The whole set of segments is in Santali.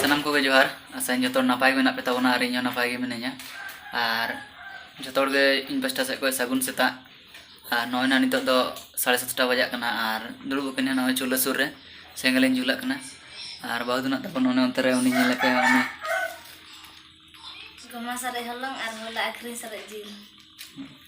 ᱥᱟᱱᱟᱢ ᱠᱚᱜᱮ ᱡᱚᱦᱟᱨ ᱟᱥᱟᱧ ᱡᱚᱛᱚ ᱦᱚᱲ ᱱᱟᱯᱟᱭ ᱜᱮ ᱢᱮᱱᱟᱜ ᱯᱮ ᱛᱟᱵᱚᱱᱟ ᱟᱨ ᱤᱧ ᱦᱚᱸ ᱱᱟᱯᱟᱭ ᱜᱮ ᱢᱤᱱᱟᱹᱧᱟ ᱟᱨ ᱡᱚᱛᱚ ᱦᱚᱲ ᱜᱮ ᱤᱧ ᱯᱟᱥᱴᱟ ᱥᱮᱫ ᱠᱷᱚᱱ ᱥᱟᱹᱜᱩᱱ ᱥᱮᱛᱟᱜ ᱟᱨ ᱱᱚᱜᱼᱚᱭ ᱱᱟ ᱱᱤᱛᱚᱜ ᱫᱚ ᱥᱟᱲᱮ ᱥᱟᱛᱴᱟ ᱵᱟᱡᱟᱜ ᱠᱟᱱᱟ ᱟᱨ ᱫᱩᱲᱩᱵ ᱟᱠᱟᱱᱟ ᱱᱚᱜᱼᱚᱭ ᱪᱩᱞᱦᱟᱹ ᱥᱩᱨ ᱨᱮ ᱥᱮᱸᱜᱮᱞ ᱤᱧ ᱡᱩᱞᱟᱜ ᱠᱟᱱᱟ ᱟᱨ ᱵᱟᱹᱦᱩ ᱫᱚ ᱱᱟᱜ ᱛᱟᱠᱚ ᱱᱚᱜᱼᱚᱭ ᱚᱱᱛᱮ ᱨᱮ ᱩᱱᱤ ᱧᱮᱞ ᱞᱮᱠᱟᱭ ᱩᱱᱤ ᱜᱚᱢᱟ ᱥᱟᱨᱮᱡ ᱦᱚᱞᱚᱝ ᱟᱨ ᱦᱚᱞᱟ ᱟᱹᱠᱷᱨᱤᱧ ᱥᱟᱨᱮᱡ ᱡᱤᱞ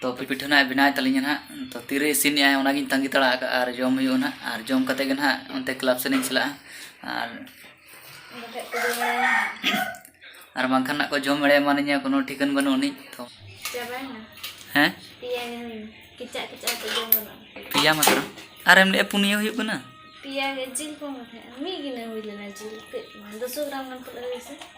ᱛᱚ ᱯᱤᱯᱤᱴᱷᱟᱹ ᱱᱟᱦᱟᱜ ᱵᱮᱱᱟᱣ ᱛᱟᱹᱞᱤᱧᱟ ᱱᱟᱦᱟᱜ ᱛᱚ ᱛᱤᱨᱮ ᱤᱥᱤᱱ ᱮᱫᱟᱭ ᱚᱱᱟᱜᱤᱧ ᱛᱟᱺᱜᱤ ᱛᱟᱲᱟ ᱟᱠᱟᱫᱼᱟ ᱟᱨ ᱡᱚᱢ ᱦᱩᱭᱩᱜᱼᱟ ᱱᱟᱦᱟᱜ ᱟᱨ ᱡᱚᱢ ᱠᱟᱛᱮᱫ ᱜᱮ ᱱᱟᱦᱟᱜ ᱚᱱᱛᱮ ᱠᱞᱟᱵᱽ ᱥᱮᱫ ᱤᱧ ᱪᱟᱞᱟᱜᱼᱟ ᱟᱨ ᱟᱨ ᱵᱟᱝᱠᱷᱟᱱ ᱱᱟᱦᱟᱜ ᱠᱚ ᱡᱚᱢ ᱮᱲᱮ ᱮᱢᱟᱱᱤᱧᱟ ᱠᱳᱱᱳ ᱴᱷᱤᱠᱟᱹᱱ ᱵᱟᱹᱱᱩᱜ ᱟᱹᱱᱤᱡ ᱛᱚ ᱦᱮᱸ ᱯᱮᱭᱟ ᱢᱟᱛᱨᱚ ᱟᱨ ᱮᱢ ᱞᱟᱹᱭᱮᱫᱼᱟ ᱯᱩᱱᱭᱟᱹ ᱦᱩᱭᱩᱜ ᱠᱟᱱᱟ ᱯᱮᱭᱟ ᱜᱮ ᱡᱤᱞ ᱠᱚ ᱢᱤᱫ ᱜᱤᱱᱟᱹ ᱦᱩᱭ ᱞᱮᱱᱟ ᱡᱤᱞ ᱠᱟᱹᱡ ᱫᱩᱥᱚ ᱜᱨᱟᱢ ᱜᱟᱱ ᱯᱟᱞᱮ ᱦᱩᱭ ᱥᱮ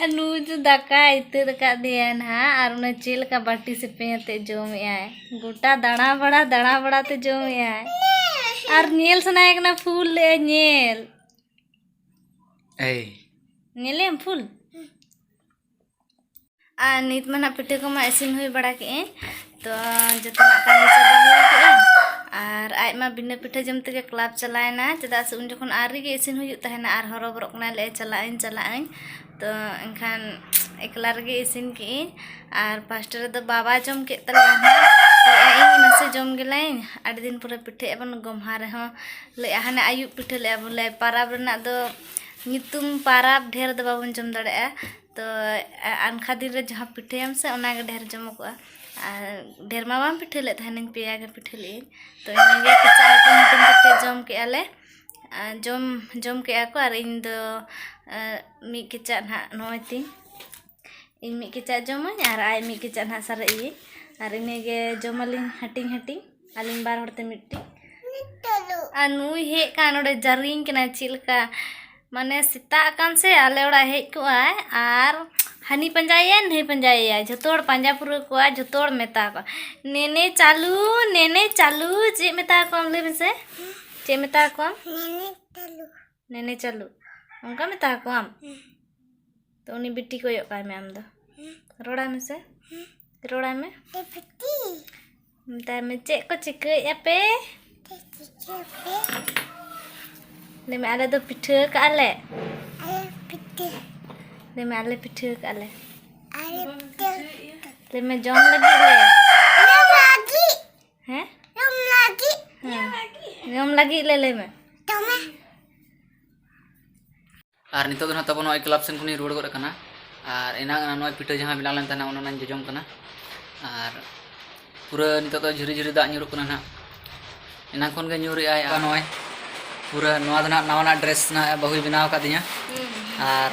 ᱟᱨ ᱱᱩᱭ ᱫᱚ ᱫᱟᱠᱟᱭ ᱤᱛᱟᱹᱫ ᱟᱠᱟᱫᱮᱭᱟ ᱱᱟᱦᱟᱜ ᱟᱨ ᱚᱱᱟ ᱪᱮᱫ ᱞᱮᱠᱟ ᱵᱟᱹᱴᱤ ᱥᱮᱯᱮᱧ ᱟᱛᱮᱫ ᱡᱚᱢᱮᱫᱟᱭ ᱜᱚᱴᱟ ᱫᱟᱬᱟ ᱵᱟᱲᱟ ᱫᱟᱬᱟ ᱵᱟᱲᱟ ᱛᱮ ᱡᱚᱢᱮᱫᱟᱭ ᱟᱨ ᱧᱮᱞ ᱥᱟᱱᱟᱭᱮ ᱠᱟᱱᱟ ᱯᱷᱩᱞ ᱞᱮᱫᱟᱭ ᱧᱮᱞ ᱮᱭ ᱧᱮᱞᱮᱢ ᱯᱷᱩᱞ ᱟᱨ ᱱᱤᱛ ᱢᱟ ᱱᱟᱜ ᱯᱤᱴᱷᱟᱹ ᱠᱚᱢᱟ ᱤᱥᱤᱱ ᱦᱩᱭ ᱵᱟᱲᱟ ᱠᱮᱜ ᱟᱹᱧ ᱛᱚ ᱡᱚᱛᱚᱱᱟᱜ ᱠᱟᱹᱢᱤ ᱪᱟᱵᱟ ᱦᱩᱭ ᱠᱮᱜ ᱟᱹᱧ ᱟᱨ ᱟᱡ ᱢᱟ ᱵᱤᱱᱟᱹ ᱯᱤᱴᱷᱟᱹ ᱡᱚᱢ ᱛᱮᱜᱮ ᱠᱞᱟᱵᱽ ᱪᱟᱞᱟᱣᱮᱱᱟ ᱪᱮᱫᱟᱜ ᱥᱮ ᱩᱱ ᱡᱚᱠᱷᱚᱱ ᱟᱹᱣᱨᱤ ᱜᱮ ᱤᱥᱤᱱ ᱦᱩᱭᱩᱜ ᱛᱟᱦᱮᱱᱟ ᱟᱨ ᱦᱚᱨᱚᱵᱚᱨᱚᱜ ᱠᱟᱱᱟᱭ ᱞᱟᱹᱭᱮᱫᱼᱟᱭ ᱪᱟᱞᱟᱜ ᱟᱹᱧ ᱪᱟᱞᱟᱜ ᱟᱹᱧ ᱛᱚ ᱮᱱᱠᱷᱟᱱ ᱮᱠᱞᱟ ᱨᱮᱜᱮ ᱤᱥᱤᱱ ᱠᱮᱜ ᱟᱹᱧ ᱟᱨ ᱯᱷᱟᱥᱴ ᱨᱮᱫᱚ ᱵᱟᱵᱟ ᱡᱚᱢ ᱠᱮᱫ ᱛᱟᱞᱮᱭᱟ ᱞᱟᱹᱭᱮᱫᱼᱟᱭ ᱤᱧ ᱱᱟᱥᱮ ᱡᱚᱢ ᱜᱮᱞᱟᱹᱧ ᱟᱹᱰᱤ ᱫᱤᱱ ᱯᱚᱨᱮ ᱯᱤᱴᱷᱟᱹᱭᱮᱫ ᱵᱚᱱ ᱜᱚᱢᱦᱟ ᱨᱮᱦᱚᱸ ᱞᱟᱹᱭᱮᱫᱼᱟ ᱦᱟᱱᱮ ᱟᱹᱭᱩᱵ ᱯᱤᱴᱷᱟᱹ ᱞᱮᱜᱼᱟ ᱵᱚᱞᱮ ᱯᱟᱨᱟᱵᱽ ᱨᱮᱱᱟᱜ ᱫᱚ ᱧᱩᱛᱩᱢ ᱯᱟᱨᱟᱵᱽ ᱰᱷᱮᱨ ᱫᱚ ᱵᱟᱵᱚᱱ ᱡᱚᱢ ᱫᱟᱲᱮᱭᱟᱜᱼᱟ ᱛᱚ ᱟᱱᱠᱷᱟ ᱫᱤᱱ ᱨᱮ ᱡᱟᱦᱟᱸ ᱯᱤᱴᱷᱟᱹᱭᱟᱢ ᱥᱮ ᱚᱱᱟ ᱜᱮ ᱰᱷᱮᱨ ᱡᱚᱢᱚᱜᱚᱜᱼᱟ ᱟᱨ ᱰᱷᱮᱨ ᱢᱟ ᱵᱟᱢ ᱯᱤᱴᱷᱟᱹ ᱞᱮᱫ ᱛᱟᱦᱮᱱᱤᱧ ᱯᱮᱭᱟ ᱜᱮ ᱯᱤᱴᱷᱟᱹ ᱞᱮᱫ ᱟᱹᱧ ᱛᱚ ᱤᱱᱟᱹᱜᱮ ᱠᱮᱪᱟᱜ ᱦᱟᱹᱴᱤᱧ ᱦᱟᱹᱴᱤᱧ ᱠᱟᱛᱮ ᱡᱚᱢ ᱠᱮᱜᱼᱟ ᱞᱮ ᱟᱨ ᱡᱚᱢ ᱡᱚᱢ ᱠᱮᱜᱼᱟ ᱠᱚ ᱟᱨ ᱤᱧ ᱫᱚ ᱢᱤᱫ ᱠᱮᱪᱟᱜ ᱱᱟᱜ ᱱᱚᱜᱼᱚᱭ ᱛᱤᱧ ᱤᱧ ᱢᱤᱫ ᱠᱮᱪᱟᱜ ᱡᱚᱢᱟᱹᱧ ᱟᱨ ᱟᱡ ᱢᱤᱫ ᱠᱮᱪᱟᱜ ᱱᱟᱜ ᱥᱟᱨᱮᱡ ᱟᱹᱭᱟᱹᱧ ᱟᱨ ᱤᱱᱟᱹᱜᱮ ᱡᱚᱢ ᱟᱹᱞᱤᱧ ᱦᱟᱹᱴᱤᱧ ᱦᱟᱹᱴᱤᱧ ᱟᱹᱞᱤᱧ ᱵᱟᱨ ᱦᱚᱲᱛᱮ ᱢᱤᱫᱴᱤᱡ ᱟᱨ ᱱᱩᱭ ᱦᱮᱡ ᱟᱠᱟᱱ ᱱᱚᱰᱮ ᱡᱟᱹᱨᱤᱧ ᱠᱟᱱᱟᱭ ᱪᱮᱫ ᱞᱮᱠᱟ ᱢᱟᱱᱮ ᱥᱮᱛᱟᱜ ᱟᱠᱟᱱ ᱥᱮ ᱟᱞᱮ ᱚᱲᱟᱜ ᱦᱮᱡ ᱠᱚᱜᱼᱟᱭ ᱟᱨ ᱦᱟᱹᱱᱤ ᱯᱟᱸᱡᱟᱭᱮᱭᱟᱭ ᱱᱟᱹᱭ ᱯᱟᱸᱡᱟᱭᱮᱭᱟᱭ ᱡᱷᱚᱛᱚ ᱦᱚᱲ ᱯᱟᱸᱡᱟ ᱯᱩᱨᱟᱹᱣ ᱠᱚᱣᱟ ᱡᱷᱚᱛᱚ ᱦᱚᱲ ᱢᱮᱛᱟ ᱠᱚᱣᱟ ᱱᱮᱱᱮ ᱪᱟᱞᱩ ᱱᱮᱱᱮ ᱪᱟᱞᱩ ᱪᱮᱫ ᱢᱮᱛᱟ ᱠᱚᱣᱟᱢ ᱞᱟᱹᱭ ᱢᱮᱥᱮ ᱪᱮᱫ ᱢᱮᱛᱟ ᱠᱚᱣᱟᱢ ᱱᱮᱱᱮ ᱪᱟᱞᱩ ᱚᱱᱠᱟ ᱢᱮᱛᱟ ᱟᱠᱚᱣᱟᱢ ᱛᱚ ᱩᱱᱤ ᱵᱤᱴᱤ ᱠᱚᱭᱚᱜ ᱠᱟᱭ ᱢᱮ ᱟᱢ ᱫᱚ ᱨᱚᱲᱟᱭ ᱢᱮᱥᱮ ᱨᱚᱲᱟᱭ ᱢᱮ ᱢᱮᱛᱟᱭ ᱢᱮ ᱪᱮᱫ ᱠᱚ ᱪᱤᱠᱟᱹᱭᱮᱫ ᱟᱯᱮ ᱞᱟᱹᱭ ᱢᱮ ᱟᱞᱮ ᱫᱚ ᱯᱤᱴᱷᱟᱹ ᱠᱟᱜᱼᱟ ᱞᱮ ᱞᱟᱹᱭ ᱢᱮ ᱟᱞᱮ ᱯᱤᱴᱷᱟᱹ ᱠᱟᱜᱼᱟ ᱞᱮ ᱞᱟᱹᱭ ᱢᱮ ᱡᱚᱢ ᱞᱟᱹᱜᱤᱫ ᱞᱮ ᱦᱮᱸ ᱡᱚᱢ ᱞᱟᱹᱜᱤᱫ ᱡᱚᱢ ᱞᱟᱹᱜᱤᱫ ᱞᱮ ᱞᱟᱹᱭ ᱢᱮ ᱫᱚᱢᱮ ᱟᱨ ᱱᱤᱛᱚᱜ ᱫᱚ ᱱᱟᱦᱟᱜ ᱛᱟᱵᱚ ᱱᱚᱜᱼᱚᱭ ᱠᱞᱟᱵᱽ ᱥᱮᱱ ᱠᱷᱚᱱᱤᱧ ᱨᱩᱣᱟᱹᱲ ᱜᱚᱫ ᱟᱠᱟᱱᱟ ᱟᱨ ᱮᱱᱟᱝ ᱱᱚᱜᱼᱚᱭ ᱯᱤᱴᱷᱟᱹ ᱡᱟᱦᱟᱸ ᱵᱮᱱᱟᱣ ᱞᱮᱱ ᱛᱟᱦᱮᱱᱟ ᱚᱱᱟᱧ ᱡᱚᱡᱚᱢ ᱠᱟᱱᱟ ᱟᱨ ᱯᱩᱨᱟᱹ ᱱᱤᱛᱚᱜ ᱫᱚ ᱡᱷᱤᱨᱤ ᱡᱷᱤᱨᱤ ᱫᱟᱜ ᱧᱩᱨᱩᱜ ᱠᱟᱱᱟ ᱱᱟᱦᱟᱜ ᱮᱱᱟᱝ ᱠᱷᱚᱱ ᱜᱮ ᱧᱩᱨᱮᱜᱼᱟᱭ ᱟᱨ ᱱᱚᱜᱼᱚᱭ ᱯᱩᱨᱟᱹ ᱱᱚᱣᱟ ᱫᱚ ᱱᱟᱦᱟᱜ ᱱᱟᱣᱟᱱᱟᱜ ᱰᱨᱮᱥ ᱱᱟᱦᱟᱜ ᱵᱟᱹᱦᱩᱭ ᱵᱮᱱᱟᱣ ᱟᱠᱟᱫᱤᱧᱟ ᱟᱨ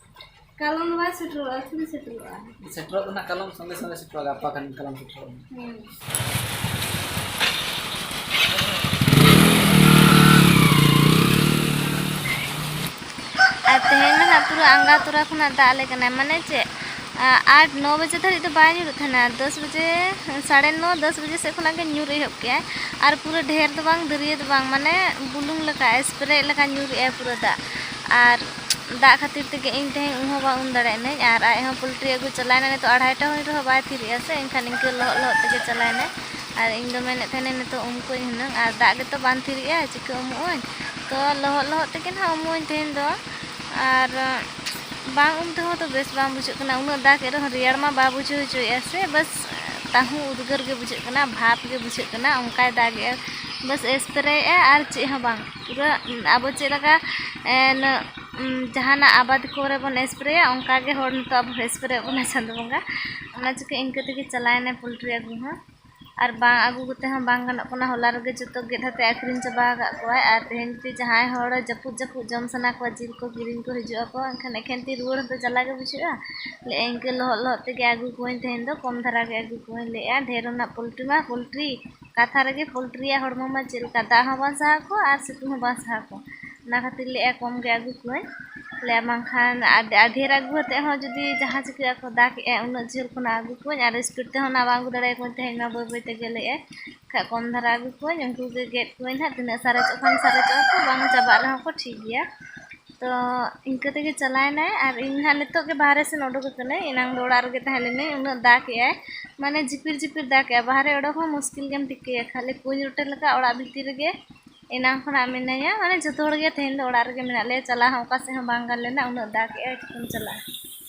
ᱠᱟᱞᱚᱢ ᱫᱚ ᱵᱟᱭ ᱥᱮᱴᱮᱨᱚᱜᱼᱟ ᱛᱤᱱ ᱥᱮᱴᱮᱨᱚᱜᱼᱟ ᱥᱮᱴᱮᱨᱚᱜ ᱫᱚ ᱱᱟᱜ ᱠᱟᱞᱚᱢ ᱥᱚᱸᱜᱮ ᱥᱚᱸᱜᱮ ᱥᱮᱴᱮᱨᱚᱜᱼᱟ ᱜᱟᱯᱟ ᱠᱷᱟᱱ ᱠᱟᱞᱚᱢ ᱥᱮᱴᱮᱨᱚᱜᱼᱟ ᱦᱮᱸ ᱯᱩᱨᱟᱹ ᱟᱸᱜᱟ ᱛᱚᱨᱟ ᱠᱷᱚᱱᱟᱜ ᱫᱟᱜ ᱟᱞᱮ ᱠᱟᱱᱟ ᱢᱟᱱᱮ ᱪᱮᱫ ᱟᱴ ᱱᱚ ᱵᱟᱡᱮ ᱫᱷᱟᱹᱨᱤᱡ ᱫᱚ ᱵᱟᱭ ᱧᱩᱨᱩᱜ ᱛᱟᱦᱮᱱᱟ ᱫᱚᱥ ᱵᱟᱡᱮ ᱥᱟᱲᱮ ᱱᱚ ᱫᱚᱥ ᱵᱟᱡᱮ ᱥᱮᱫ ᱠᱷᱚᱱᱟᱜ ᱜᱮ ᱧᱩᱨ ᱮᱦᱚᱵ ᱠᱮᱜᱼᱟᱭ ᱟᱨ ᱯᱩᱨᱟᱹ ᱰᱷᱮᱨ ᱫᱚ ᱵᱟᱝ ᱫᱟᱹᱨᱭᱟᱹ ᱫᱚ ᱵᱟᱝ ᱢᱟᱱᱮ ᱵᱩᱞᱩᱝ ᱞᱮᱠᱟ ᱥᱯᱨᱮ ᱞᱮᱠᱟ ᱧᱩᱨᱮᱜᱼᱟᱭ ᱯᱩᱨᱟᱹ ᱫᱟᱜ ᱟᱨ ᱫᱟᱜ ᱠᱷᱟᱹᱛᱤᱨ ᱛᱮᱜᱮ ᱤᱧ ᱛᱮᱦᱮᱧ ᱩᱢ ᱦᱚᱸ ᱵᱟᱝ ᱩᱢ ᱫᱟᱲᱮ ᱮᱱᱟᱹᱧ ᱟᱨ ᱟᱡ ᱦᱚᱸ ᱯᱳᱞᱴᱨᱤ ᱟᱹᱜᱩ ᱪᱟᱞᱟᱣ ᱮᱱᱟᱭ ᱱᱤᱛᱚᱜ ᱟᱲᱟᱭ ᱴᱟ ᱦᱩᱭ ᱨᱮᱦᱚᱸ ᱵᱟᱭ ᱛᱷᱤᱨᱮᱜᱼᱟ ᱥᱮ ᱮᱱᱠᱷᱟᱱ ᱤᱱᱠᱟᱹ ᱞᱚᱦᱚᱫ ᱞᱚᱦᱚᱫ ᱛᱮᱜᱮ ᱪᱟᱞᱟᱣ ᱮᱱᱟᱭ ᱟᱨ ᱤᱧ ᱫᱚ ᱢᱮᱱᱮᱫ ᱛᱟᱦᱮᱱᱟᱹᱧ ᱱᱤᱛᱚᱜ ᱩᱢ ᱠᱚᱣᱟᱹᱧ ᱦᱩᱱᱟᱹᱝ ᱟᱨ ᱫᱟᱜ ᱜᱮᱛᱚ ᱵᱟᱝ ᱛᱷᱤᱨᱮᱜᱼᱟ ᱪᱤᱠᱟᱹ ᱩᱢᱩᱜ ᱟᱹᱧ ᱛᱚ ᱞᱚᱦᱚᱫ ᱞᱚᱦᱚᱫ ᱛᱮᱜᱮ ᱱᱟᱦᱟᱜ ᱩᱢᱩᱜ ᱟᱹᱧ ᱛᱮᱦᱮᱧ ᱫᱚ ᱟᱨ ᱵᱟᱝ ᱩᱢ ᱛᱮᱦᱚᱸ ᱛᱚ ᱵᱮᱥ ᱵᱟᱝ ᱵᱩᱡᱷᱟᱹᱜ ᱠᱟᱱᱟ ᱩᱱᱟᱹᱜ ᱫᱟᱜ ᱮᱫ ᱨᱮᱦᱚᱸ ᱨᱮᱭᱟᱲ ᱢᱟ ᱵᱟᱭ ᱵᱩᱡᱷᱟᱹᱣ ᱦᱚᱪᱚᱭᱮᱫᱼᱟ ᱥᱮ ᱵᱟᱥ ᱛᱟᱹᱦᱩ ᱩᱫᱽᱜᱟᱹᱨ ᱜᱮ ᱵᱩᱡᱷᱟᱹᱜ ᱠᱟᱱᱟ ᱵᱷᱟᱯ ᱜᱮ ᱵᱩᱡᱷᱟᱹᱜ ᱠᱟᱱᱟ ᱚᱱᱠᱟᱭ ᱫᱟᱜᱮᱫᱼᱟ ᱵᱟᱥ ᱮᱥᱯᱨᱮᱭᱮᱫᱼᱟᱭ ᱟᱨ ᱪᱮᱫ ᱦᱚᱸ ᱵᱟᱝ ᱯᱩᱨᱟᱹ ᱟᱵᱚ ᱪᱮᱫ ᱞᱮᱠᱟ ᱡᱟᱦᱟᱱᱟᱜ ᱟᱵᱟᱫ ᱠᱚᱨᱮ ᱵᱚᱱ ᱥᱯᱨᱮᱭᱟ ᱚᱱᱠᱟ ᱜᱮ ᱦᱚᱲ ᱱᱤᱛᱚᱜ ᱟᱵᱚ ᱥᱯᱨᱮ ᱟᱵᱚᱱ ᱠᱟᱱᱟᱭ ᱪᱟᱸᱫᱚ ᱵᱚᱸᱜᱟ ᱚᱱᱟ ᱪᱤᱠᱟᱹ ᱤᱱᱠᱟᱹ ᱛᱮᱜᱮ ᱪᱟᱞᱟᱣᱮᱱᱟᱭ ᱯᱳᱞᱴᱨᱤ ᱟᱹᱜᱩ ᱦᱚᱸ ᱟᱨ ᱵᱟᱝ ᱟᱹᱜᱩ ᱠᱟᱛᱮ ᱦᱚᱸ ᱵᱟᱝ ᱜᱟᱱᱚᱜ ᱠᱟᱱᱟ ᱦᱚᱞᱟ ᱨᱮᱜᱮ ᱡᱚᱛᱚ ᱜᱮᱫ ᱠᱟᱛᱮ ᱟᱹᱠᱷᱨᱤᱧ ᱪᱟᱵᱟ ᱟᱠᱟᱫ ᱠᱚᱣᱟᱭ ᱟᱨ ᱛᱮᱦᱮᱧ ᱡᱩᱫᱤ ᱡᱟᱦᱟᱸᱭ ᱦᱚᱲ ᱡᱟᱹᱯᱩᱫ ᱡᱟᱹᱯᱩᱫ ᱡᱚᱢ ᱥᱟᱱᱟ ᱠᱚᱣᱟ ᱡᱤᱞ ᱠᱚ ᱠᱤᱨᱤᱧ ᱠᱚ ᱦᱤᱡᱩᱜ ᱟᱠᱚ ᱮᱱᱠᱷᱟᱱ ᱮᱠᱷᱮᱱ ᱛᱤ ᱨᱩᱣᱟᱹᱲ ᱦᱚᱸᱛᱚ ᱡᱟᱞᱟ ᱜᱮ ᱵᱩᱡᱷᱟᱹᱜᱼᱟ ᱞᱟᱹᱭᱮᱫᱼᱟᱭ ᱤᱱᱠᱟᱹ ᱞᱚᱦᱚᱫ ᱞᱚᱦᱚᱫ ᱛᱮᱜᱮ ᱟᱹᱜᱩ ᱠᱚᱣᱟᱧ ᱛᱮᱦᱮᱧ ᱫᱚ ᱠᱚᱢ ᱫᱷᱟᱨᱟ ᱜᱮ ᱟᱹᱜᱩ ᱠᱚᱣᱟᱧ ᱞᱟᱹᱭᱮᱫᱼᱟᱭ ᱰᱷᱮᱹᱨ ᱨᱮᱱᱟᱜ ᱯᱳᱞᱴᱨᱤ ᱢᱟ ᱯᱳᱞᱴᱨᱤ ᱠᱟᱛᱷᱟ ᱨᱮᱜᱮ ᱯᱳᱞᱴᱨᱤᱭᱟᱜ ᱦᱚᱲᱢᱚ ᱢᱟ ᱪᱮᱫ ᱞᱮᱠᱟ ᱫᱟᱜ ᱦᱚᱸ ᱵᱟᱝ ᱥᱟᱦᱟᱣ ᱠᱚᱣᱟ ᱟᱨ ᱥᱤᱛᱩᱝ ᱦᱚᱸ ᱵᱟᱝ ᱥᱟᱦᱟᱣ ᱠᱚᱣᱟ ᱚᱱᱟ ᱠᱷᱟᱹᱛᱤᱨ ᱞᱟᱹᱭᱮᱫᱼᱟ ᱠᱚᱢ ᱜᱮ ᱟᱹᱜᱩ ᱠᱚᱣᱟᱹᱧ ᱞᱟᱹᱭᱮᱫᱼᱟ ᱵᱟᱝᱠᱷᱟᱱ ᱰᱷᱮᱹᱨ ᱟᱹᱜᱩ ᱠᱟᱛᱮᱫ ᱦᱚᱸ ᱡᱩᱫᱤ ᱡᱟᱦᱟᱸ ᱪᱤᱠᱟᱹᱜ ᱟᱠᱚ ᱫᱟᱜᱽ ᱮᱫᱼᱟᱭ ᱩᱱᱟᱹᱜ ᱡᱷᱟᱹᱞ ᱠᱷᱚᱱᱟᱜ ᱟᱹᱜᱩ ᱠᱚᱣᱟᱹᱧ ᱟᱨ ᱤᱥᱯᱤᱰ ᱛᱮᱦᱚᱸ ᱱᱟᱦᱟᱜ ᱵᱟᱝ ᱟᱹᱜᱩ ᱫᱟᱲᱮ ᱟᱠᱚᱣᱟᱹᱧ ᱛᱮᱦᱮᱧ ᱢᱟ ᱵᱟᱹᱭ ᱵᱟᱹᱭ ᱛᱮ ᱜᱮᱞᱮᱜᱼᱟᱭ ᱮᱱᱠᱷᱟᱱ ᱠᱚᱢ ᱫᱷᱟᱨᱟ ᱟᱹᱜᱩ ᱠᱚᱣᱟᱹᱧ ᱩᱱᱠᱩ ᱜᱮ ᱜᱮᱫ ᱠᱚᱣᱟᱹᱧ ᱱᱟᱦᱟᱜ ᱛᱤᱱᱟᱹᱜ ᱥᱟᱨᱮᱡᱚᱜ ᱠᱷᱟᱱ ᱥᱟᱨᱮᱡᱚᱜᱼᱟ ᱠᱚ ᱵᱟᱝ ᱪᱟᱵᱟᱜ ᱨᱮᱦᱚᱸ ᱠᱚ ᱴᱷᱤᱠ ᱜᱮᱭᱟ ᱛᱚ ᱤᱱᱠᱟᱹ ᱛᱮᱜᱮ ᱪᱟᱞᱟᱣᱮᱱᱟᱭ ᱟᱨ ᱤᱧ ᱱᱟᱦᱟᱜ ᱱᱤᱛᱚᱜ ᱜᱮ ᱵᱟᱦᱨᱮ ᱥᱮᱱ ᱩᱰᱩᱠ ᱟᱠᱟᱱᱟᱹᱧ ᱮᱱᱟᱝ ᱫᱚ ᱚᱲᱟᱜ ᱨᱮᱜᱮ ᱛᱟᱦᱮᱸ ᱞᱮᱱᱟᱹᱧ ᱩᱱᱟᱹᱜ ᱫᱟᱜ ᱮᱫᱟᱭ ᱢᱟᱱᱮ ᱡᱷᱤᱯᱤᱨ ᱡᱷᱤᱯᱤᱨ ᱫᱟᱜ ᱮᱫᱟᱭ ᱵᱟᱦᱨᱮ ᱩᱰᱩᱠ ᱦᱚᱸ ᱢᱩᱥᱠᱤᱞ ᱜᱮᱢ ᱴᱷᱤᱠᱟᱹᱭᱟ ᱠᱷᱟᱹᱞᱤ ᱠᱩᱧ ᱨᱚᱴᱮ ᱞᱮᱠᱟ ᱚᱲᱟᱜ ᱵᱷᱤᱛᱤᱨ ᱨᱮᱜᱮ ᱮᱱᱟᱝ ᱠᱷᱚᱱᱟᱜ ᱢᱤᱱᱟᱹᱧᱟ ᱢᱟᱱᱮ ᱡᱚᱛᱚ ᱦᱚᱲᱜᱮ ᱛᱮᱦᱮᱧ ᱫᱚ ᱚᱲᱟᱜ ᱨᱮᱜᱮ ᱢᱮᱱᱟᱜ ᱞᱮᱭᱟ ᱪᱟᱞᱟᱣ ᱦᱚᱸ ᱚᱠᱟ ᱥᱮᱫ ᱦᱚᱸ ᱵᱟᱝ ᱜᱟᱱ ᱞᱮᱱᱟ ᱩᱱᱟᱹᱜ ᱫᱟᱜ ᱮᱫᱟᱭ ᱪᱤᱠᱟᱹᱢ ᱪᱟᱞᱟᱜᱼᱟ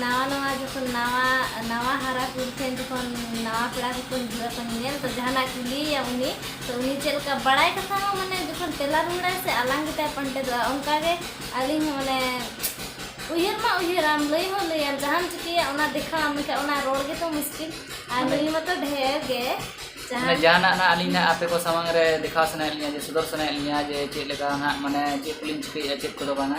ᱱᱟᱣᱟ ᱱᱟᱣᱟ ᱡᱚᱠᱷᱚᱱ ᱱᱟᱣᱟ ᱱᱟᱣᱟ ᱦᱟᱨᱟ ᱠᱩᱲᱤ ᱴᱷᱮᱱ ᱡᱚᱠᱷᱚᱱ ᱱᱟᱣᱟ ᱯᱮᱲᱟ ᱠᱚᱠᱚ ᱦᱤᱡᱩᱜᱼᱟ ᱛᱚ ᱧᱮᱧᱮᱞ ᱛᱚ ᱡᱟᱦᱟᱱᱟᱜ ᱠᱩᱞᱤᱭᱮᱭᱟ ᱩᱱᱤ ᱛᱚ ᱩᱱᱤ ᱪᱮᱫ ᱞᱮᱠᱟ ᱵᱟᱲᱟᱭ ᱠᱟᱛᱷᱟ ᱦᱚᱸ ᱢᱟᱱᱮ ᱡᱚᱠᱷᱚᱱ ᱛᱮᱞᱟ ᱨᱩᱣᱟᱹᱲᱟᱭ ᱥᱮ ᱟᱞᱟᱝ ᱜᱮᱛᱟᱭ ᱯᱟᱱᱴᱮᱫᱚᱜᱼᱟ ᱚᱱᱠᱟ ᱜᱮ ᱟᱹᱞᱤᱧ ᱦᱚᱸ ᱢᱟᱱᱮ ᱩᱭᱦᱟᱹᱨ ᱢᱟ ᱩᱭᱦᱟᱹᱨᱟᱢ ᱞᱟᱹᱭ ᱦᱚᱸ ᱞᱟᱹᱭᱟᱢ ᱡᱟᱦᱟᱸᱢ ᱪᱤᱠᱟᱹᱭᱟ ᱚᱱᱟ ᱫᱮᱠᱷᱟᱣᱟᱢ ᱢᱮᱱᱠᱷᱟᱱ ᱚᱱᱟ ᱨᱚᱲ ᱜᱮᱛᱚ ᱢᱩᱥᱠᱤᱞ ᱟᱨ ᱱᱩᱭ ᱢᱟᱛᱚ ᱰᱷᱮᱨ ᱜᱮ ᱢᱟᱱᱮ ᱡᱟᱦᱟᱱᱟᱜ ᱱᱟᱜ ᱟᱹᱞᱤᱧ ᱱᱟᱜ ᱟᱯᱮ ᱠᱚ ᱥᱟᱢᱟᱝ ᱨᱮ ᱫᱮᱠᱷᱟᱣ ᱥᱟᱱᱟᱭᱮᱫ ᱞᱤᱧᱟ ᱡᱮ ᱥᱚᱫᱚᱨ ᱥᱟᱱᱟᱭᱮᱫ ᱞᱤᱧᱟ ᱡᱮ ᱪᱮᱫ ᱞᱮᱠᱟ ᱱᱟᱜ ᱢᱟᱱᱮ ᱪᱮᱫ ᱠᱚᱞᱤᱧ ᱪᱤᱠᱟᱹᱭᱮᱫᱼᱟ ᱪᱮᱫ ᱠᱚᱫᱚ ᱵᱟᱝᱟ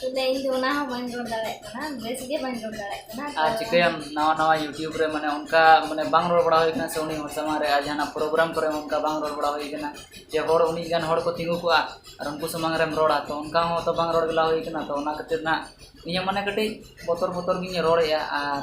ᱛᱚᱵᱮ ᱤᱧ ᱫᱚ ᱚᱱᱟ ᱦᱚᱸ ᱵᱟᱹᱧ ᱨᱚᱲ ᱫᱟᱲᱮᱭᱟᱜ ᱠᱟᱱᱟ ᱵᱮᱥ ᱜᱮ ᱵᱟᱹᱧ ᱨᱚᱲ ᱫᱟᱲᱮᱭᱟᱜ ᱠᱟᱱᱟ ᱟᱨ ᱪᱤᱠᱟᱹᱭᱟᱢ ᱱᱟᱣᱟ ᱱᱟᱣᱟ ᱤᱭᱩᱴᱩᱵᱽ ᱨᱮ ᱢᱟᱱᱮ ᱚᱱᱠᱟ ᱢᱟᱱᱮ ᱵᱟᱝ ᱨᱚᱲ ᱵᱟᱲᱟ ᱦᱩᱭ ᱠᱟᱱᱟ ᱥᱮ ᱩᱱᱤ ᱦᱚᱲ ᱥᱟᱢᱟᱝ ᱨᱮ ᱟᱨ ᱡᱟᱦᱟᱱᱟᱜ ᱯᱨᱳᱜᱨᱟᱢ ᱠᱚᱨᱮ ᱦᱚᱸ ᱚᱱᱠᱟ ᱵᱟᱝ ᱨᱚᱲ ᱵᱟᱲᱟ ᱦᱩᱭ ᱠᱟᱱᱟ ᱡᱮ ᱦᱚᱲ ᱩᱱᱟᱹᱜ ᱜᱟᱱ ᱦᱚᱲ ᱠᱚ ᱛᱤᱸᱜᱩ ᱠᱚᱜᱼᱟ ᱟᱨ ᱩᱱᱠᱩ ᱥᱟᱢᱟᱝ ᱨᱮᱢ ᱨᱚᱲᱟ ᱛᱚ ᱚᱱᱠᱟ ᱦᱚᱸ ᱛᱚ ᱵᱟᱝ ᱨᱚᱲ ᱵᱟᱲᱟ ᱦᱩᱭ ᱠᱟᱱᱟ ᱛᱚ ᱚᱱᱟ ᱠᱷᱟᱹᱛᱤᱨ ᱱᱟᱜ ᱤᱧᱟᱹᱜ ᱢᱟᱱᱮ ᱠᱟᱹᱴᱤᱡ ᱵᱚᱛᱚᱨ ᱵᱚᱛᱚᱨ ᱜᱤᱧ ᱨᱚᱲᱮᱫᱼᱟ ᱟᱨ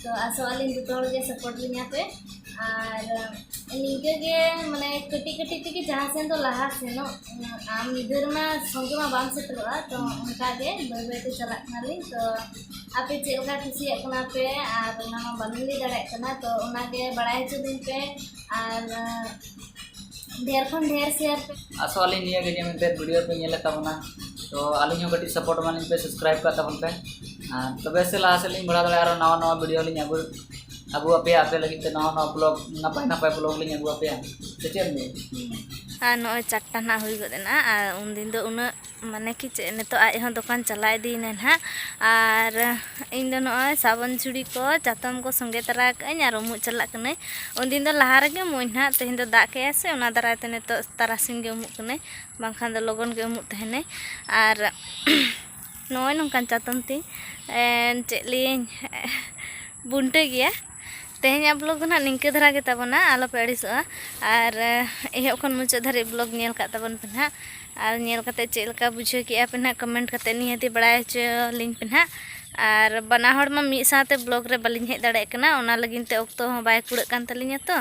ᱛᱚ ᱟᱥᱚᱜ ᱟᱹᱞᱤᱧ ᱡᱚᱛᱚ ᱦᱚᱲ ᱜᱮ ᱥᱟᱯᱳᱨᱴ ᱞᱤᱧᱟᱹ ᱯᱮ ᱟᱨ ᱱᱤᱝᱠᱟᱹ ᱜᱮ ᱢᱟᱱᱮ ᱠᱟᱹᱴᱤᱡ ᱠᱟᱹᱴᱤᱡ ᱛᱮᱜᱮ ᱡᱟᱦᱟᱸ ᱥᱮᱱ ᱫᱚ ᱞᱟᱦᱟ ᱥᱮᱱᱚᱜ ᱟᱢ ᱢᱤᱫ ᱫᱷᱟᱣ ᱨᱮᱢᱟ ᱥᱚᱸᱜᱮ ᱢᱟ ᱵᱟᱢ ᱥᱮᱴᱮᱨᱚᱜᱼᱟ ᱛᱚ ᱚᱱᱠᱟ ᱜᱮ ᱵᱟᱹᱭ ᱵᱟᱹᱭ ᱛᱮ ᱪᱟᱞᱟᱜ ᱠᱟᱱᱟᱞᱤᱧ ᱛᱚ ᱟᱯᱮ ᱪᱮᱫ ᱞᱮᱠᱟ ᱠᱩᱥᱤᱭᱟᱜ ᱠᱟᱱᱟ ᱯᱮ ᱟᱨ ᱚᱱᱟ ᱢᱟ ᱵᱟᱹᱞᱤᱧ ᱞᱟᱹᱭ ᱫᱟᱲᱮᱭᱟᱜ ᱠᱟᱱᱟ ᱛᱚ ᱚᱱᱟ ᱜᱮ ᱵᱟᱲᱟᱭ ᱦᱚᱪᱚ ᱞᱤᱧ ᱯᱮ ᱟᱨ ᱰᱷᱮᱨ ᱠᱷᱚᱱ ᱰᱷᱮᱨ ᱥᱮᱭᱟᱨ ᱯᱮ ᱟᱥᱚᱜ ᱟᱹᱞᱤᱧ ᱱᱤᱭᱟᱹ ᱜᱮ ᱡᱮ ᱢᱮᱱᱛᱮ ᱵᱷᱤᱰᱤᱭᱳ ᱯᱮ ᱧᱮᱞᱮᱫ ᱛᱟᱵᱚᱱᱟ ᱛᱚ ᱟᱹᱞᱤᱧ ᱦᱚᱸ ᱠᱟᱹᱴᱤᱡ ᱥᱟᱯᱳᱨᱴ ᱮᱢᱟ ᱞᱤᱧ ᱯᱮ ᱥᱟᱵᱥᱠᱨᱟᱭᱤᱵᱽ ᱠᱟᱜ ᱛᱟᱵᱚᱱ ᱯᱮ ᱟᱨ ᱛᱚᱵᱮ ᱥᱮ ᱞᱟᱦᱟ ᱥᱮᱫ ᱞᱤᱧ ᱵᱟᱲᱦᱟᱣ ᱫᱟᱲᱮᱭᱟᱜᱼᱟ ᱟᱨᱚ ᱱᱟᱣᱟ ᱱᱟᱣᱟ ᱵᱷᱤᱰᱤᱭᱳ ᱞᱤᱧ ᱟᱹᱜᱩ ᱟᱹᱜᱩ ᱟᱯᱮᱭᱟ ᱟᱯᱮ ᱞᱟᱹᱜᱤᱫ ᱛᱮ ᱱᱟᱣᱟ ᱱᱟᱣᱟ ᱵᱞᱚᱜᱽ ᱱᱟᱯᱟᱭ ᱱᱟᱯᱟᱭ ᱵᱞᱚᱜᱽ ᱞᱤᱧ ᱟᱹᱜᱩ ᱟᱯᱮᱭᱟ ᱥᱮ ᱪᱮᱫ ᱮᱢ ᱞᱟᱹᱭᱟ ᱟᱨ ᱱᱚᱜᱼᱚᱭ ᱪᱟᱨᱴᱟ ᱱᱟᱦᱟᱜ ᱦᱩᱭ ᱜᱚᱫ ᱮᱱᱟ ᱟᱨ ᱩᱱᱫᱤᱱ ᱫᱚ ᱩᱱᱟᱹᱜ ᱢᱟᱱᱮ ᱠᱤ ᱪᱮᱫ ᱱᱤᱛᱚᱜ ᱟᱡ ᱦᱚᱸ ᱫᱚᱠᱟᱱ ᱪᱟᱞᱟᱣ ᱤᱫᱤᱭᱮᱱᱟ ᱱᱟᱦᱟᱜ ᱟᱨ ᱤᱧ ᱫᱚ ᱱᱚᱜᱼᱚᱭ ᱥᱟᱵᱚᱱ ᱡᱷᱩᱲᱤ ᱠᱚ ᱪᱟᱛᱚᱢ ᱠᱚ ᱥᱚᱸᱜᱮ ᱛᱟᱨᱟ ᱠᱟᱜ ᱟᱹᱧ ᱟᱨ ᱩᱢᱩᱜ ᱪᱟᱞᱟᱜ ᱠᱟᱹᱱᱟᱹᱧ ᱩᱱ ᱫᱤᱱ ᱫᱚ ᱞᱟᱦᱟ ᱨᱮᱜᱮ ᱩᱢᱩᱜ ᱟᱹᱧ ᱱᱟᱦᱟᱜ ᱛᱮᱦᱮᱧ ᱫᱚ ᱫᱟᱜ ᱠᱮᱜ ᱟᱭ ᱥᱮ ᱚᱱᱟ ᱫᱟᱨᱟᱭ ᱛᱮ ᱱᱤᱛᱚᱜ ᱛᱟᱨᱟᱥᱤᱧ ᱜᱮ ᱩᱢᱩᱜ ᱠᱟᱹᱱᱟᱹᱧ ᱵᱟᱝᱠᱷᱟᱱ ᱫᱚ ᱞᱚᱜᱚᱱ ᱜᱮ ᱩᱢᱩᱜ ᱛᱟᱦᱮᱱᱟᱹᱧ ᱟᱨ ᱱᱚᱜᱼᱚᱭ ᱱᱚᱝᱠᱟᱱ ᱪᱟᱛᱚᱢ ᱛᱤᱧ ᱪᱮᱫ ᱞᱟᱹᱭᱟᱹᱧ ᱵᱩᱱᱴᱟᱹ ᱜᱮᱭᱟ ᱛᱮᱦᱮᱧᱟᱜ ᱵᱞᱚᱜ ᱫᱚ ᱱᱟᱦᱟᱜ ᱱᱤᱝᱠᱟᱹ ᱫᱷᱟᱨᱟ ᱜᱮ ᱛᱟᱵᱚᱱᱟ ᱟᱞᱚᱯᱮ ᱟᱹᱲᱤᱥᱚᱜᱼᱟ ᱟᱨ ᱮᱦᱚᱵ ᱠᱷᱚᱱ ᱢᱩᱪᱟᱹᱫ ᱫᱷᱟᱹᱨᱤᱡ ᱵᱞᱚᱜ ᱧᱮᱞ ᱠᱟᱜ ᱛᱟᱵᱚᱱ ᱯᱮ ᱱᱟᱦᱟᱜ ᱟᱨ ᱧᱮᱞ ᱠᱟᱛᱮ ᱪᱮᱫ ᱞᱮᱠᱟ ᱵᱩᱡᱷᱟᱹᱣ ᱠᱮᱜᱼᱟ ᱯᱮ ᱱᱟᱦᱟᱜ ᱠᱚᱢᱮᱱᱴ ᱠᱟᱛᱮ ᱱᱤᱦᱟᱹᱛᱤ ᱵᱟᱲᱟᱭ ᱦᱚᱪᱚ ᱞᱤᱧ ᱯᱮ ᱱᱟᱦᱟᱜ ᱟᱨ ᱵᱟᱱᱟ ᱦᱚᱲ ᱢᱟ ᱢᱤᱫ ᱥᱟᱶᱛᱮ ᱵᱞᱚᱜ ᱨᱮ ᱵᱟᱹᱞᱤᱧ ᱦᱮᱡ ᱫᱟᱲᱮᱭᱟᱜ ᱠᱟᱱᱟ ᱚᱱᱟ ᱞᱟᱹᱜᱤᱫ ᱛᱮ ᱚᱠᱛᱚ ᱦᱚᱸ ᱵᱟᱭ ᱠᱩᱲᱟᱹᱜ ᱠᱟᱱ ᱛᱟᱹᱞᱤᱧᱟ ᱛᱚ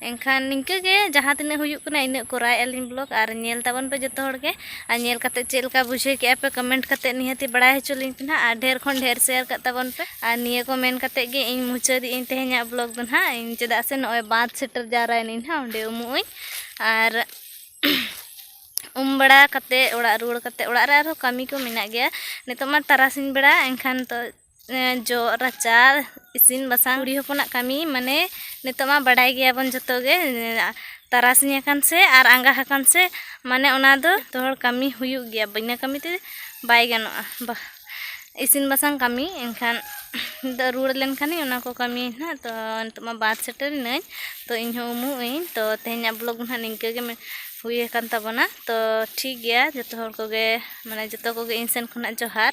ᱮᱱᱠᱷᱟᱱ ᱱᱤᱝᱠᱟᱹ ᱜᱮ ᱡᱟᱦᱟᱸ ᱛᱤᱱᱟᱹᱜ ᱦᱩᱭᱩᱜ ᱠᱟᱱᱟ ᱤᱱᱟᱹᱜ ᱠᱚᱨᱟᱣᱮᱜᱼᱟ ᱞᱤᱧ ᱵᱞᱚᱜ ᱟᱨ ᱧᱮᱞ ᱛᱟᱵᱚᱱ ᱯᱮ ᱡᱚᱛᱚ ᱦᱚᱲ ᱜᱮ ᱟᱨ ᱧᱮᱞ ᱠᱟᱛᱮ ᱪᱮᱫ ᱞᱮᱠᱟ ᱵᱩᱡᱷᱟᱹᱣ ᱠᱮᱫᱼᱟ ᱯᱮ ᱠᱚᱢᱮᱱᱴ ᱠᱟᱛᱮ ᱱᱤᱦᱟᱹᱛᱤ ᱵᱟᱲᱟᱭ ᱦᱚᱪᱚ ᱞᱤᱧ ᱯᱮ ᱱᱟᱦᱟᱜ ᱟᱨ ᱰᱷᱮᱨ ᱠᱷᱚᱱ ᱰᱷᱮᱨ ᱥᱮᱭᱟᱨ ᱠᱟᱜ ᱛᱟᱵᱚᱱ ᱯᱮ ᱟᱨ ᱱᱤᱭᱟᱹ ᱠᱚ ᱢᱮᱱ ᱠᱟᱛᱮ ᱜᱮ ᱤᱧ ᱢᱩᱪᱟᱹᱫᱮᱜ ᱟᱹᱧ ᱛᱮᱦᱮᱧᱟᱜ ᱵᱞᱚᱜ ᱫᱚ ᱱᱟᱦᱟᱜ ᱤᱧ ᱪᱮᱫᱟᱜ ᱥᱮ ᱱᱚᱜᱼᱚᱭ ᱵᱟᱸᱫᱽ ᱥᱮᱴᱮᱨ ᱡᱟᱣᱨᱟᱭᱮᱱᱟᱹᱧ ᱱᱟᱦᱟᱜ ᱚᱸᱰᱮ ᱩᱢᱩᱜ ᱟᱹᱧ ᱟᱨ ᱩᱢ ᱵᱟᱲᱟ ᱠᱟᱛᱮ ᱚᱲᱟᱜ ᱨᱩᱣᱟᱹᱲ ᱠᱟᱛᱮ ᱚᱲᱟᱜ ᱨᱮ ᱟᱨᱦᱚᱸ ᱠᱟᱹᱢᱤ ᱠᱚ ᱢᱮᱱᱟᱜ ᱜᱮᱭᱟ ᱱᱤᱛᱚᱜ ᱢᱟ ᱛᱟᱨᱟᱥᱤᱧ ᱵᱮᱲᱟ ᱮᱱᱠᱷᱟᱱ ᱫᱚ ᱡᱚᱜ ᱨᱟᱪᱟ ᱤᱥᱤᱱ ᱵᱟᱥᱟᱝ ᱠᱩᱲᱤ ᱦᱚᱯᱚᱱᱟᱜ ᱠᱟᱹᱢᱤ ᱢᱟᱱᱮ ᱱᱤᱛᱚᱜ ᱢᱟ ᱵᱟᱰᱟᱭ ᱜᱮᱭᱟᱵᱚᱱ ᱡᱚᱛᱚ ᱜᱮ ᱛᱟᱨᱟᱥᱤᱧ ᱟᱠᱟᱱ ᱥᱮ ᱟᱨ ᱟᱸᱜᱟ ᱟᱠᱟᱱ ᱥᱮ ᱢᱟᱱᱮ ᱚᱱᱟ ᱫᱚ ᱡᱚᱛᱚ ᱦᱚᱲ ᱠᱟᱹᱢᱤ ᱦᱩᱭᱩᱜ ᱜᱮᱭᱟ ᱵᱤᱱᱟᱹ ᱠᱟᱹᱢᱤ ᱛᱮ ᱵᱟᱭ ᱜᱟᱱᱚᱜᱼᱟ ᱤᱥᱤᱱ ᱵᱟᱥᱟᱝ ᱠᱟᱹᱢᱤ ᱮᱱᱠᱷᱟᱱ ᱤᱧᱫᱚ ᱨᱩᱣᱟᱹᱲ ᱞᱮᱱᱠᱷᱟᱱ ᱚᱱᱟ ᱠᱚ ᱠᱟᱹᱢᱤ ᱦᱟᱸᱜ ᱛᱚ ᱱᱤᱛᱚᱜ ᱢᱟ ᱵᱟᱫᱽ ᱥᱮᱴᱮᱨ ᱮᱱᱟᱹᱧ ᱛᱚ ᱤᱧ ᱦᱚᱸ ᱩᱢᱩᱜ ᱟᱹᱧ ᱛᱚ ᱛᱮᱦᱮᱧᱟᱜ ᱵᱞᱚᱜᱽ ᱫᱚ ᱦᱟᱸᱜ ᱱᱤᱝᱠᱟᱹ ᱜᱮ ᱦᱩᱭ ᱟᱠᱟᱱ ᱛᱟᱵᱚᱱᱟ ᱛᱚ ᱴᱷᱤᱠ ᱜᱮᱭᱟ ᱡᱚᱛᱚ ᱦᱚᱲ ᱠᱚᱜᱮ ᱢᱟᱱᱮ ᱡᱚᱛᱚ ᱠᱚᱜᱮ ᱤᱧ ᱥᱮᱱ ᱠᱷᱚᱱᱟᱜ ᱡᱚᱦᱟᱨ